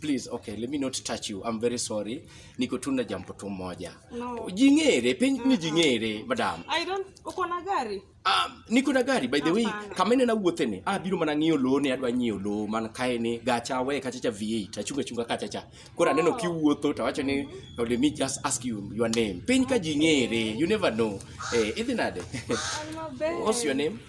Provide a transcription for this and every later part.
Please, okay, let me not touch you. I'm very sorry. Niko tu na jambo tu moja. No. Jingere, penye ni jingere, madam. I don't, uko na gari? Um, niko na gari by the way, kama ene na wuothe ni, ah biro mana ng'iyo lowo ne adwa ng'iyo lowo man kae ni gacha we kacha cha V8 achunga chunga kacha cha. Koro aneno oh. kiwuotho to awacho ni oh, let me just ask you your name. Piny ka jingere, you never know. Eh, idhi nade? What's your name?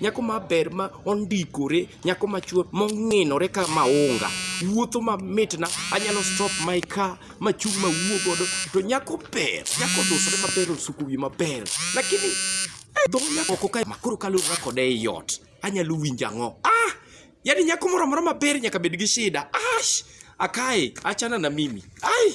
Nyako maber ma ondikore, nyako machwe mong'inore ka maunga. Wuotho mamitna, anyalo stop my car machung' mawuo godo. To nyako ber, nyako dusore maber osuko wiye maber. Lakini dho nyako oko kae makoro kalura kode ei ot, anyalo winjo ang'o? Ah! Yaani nyako moro amora maber nyaka bed gi shida. Ash! Akae, achana na mimi. Ai!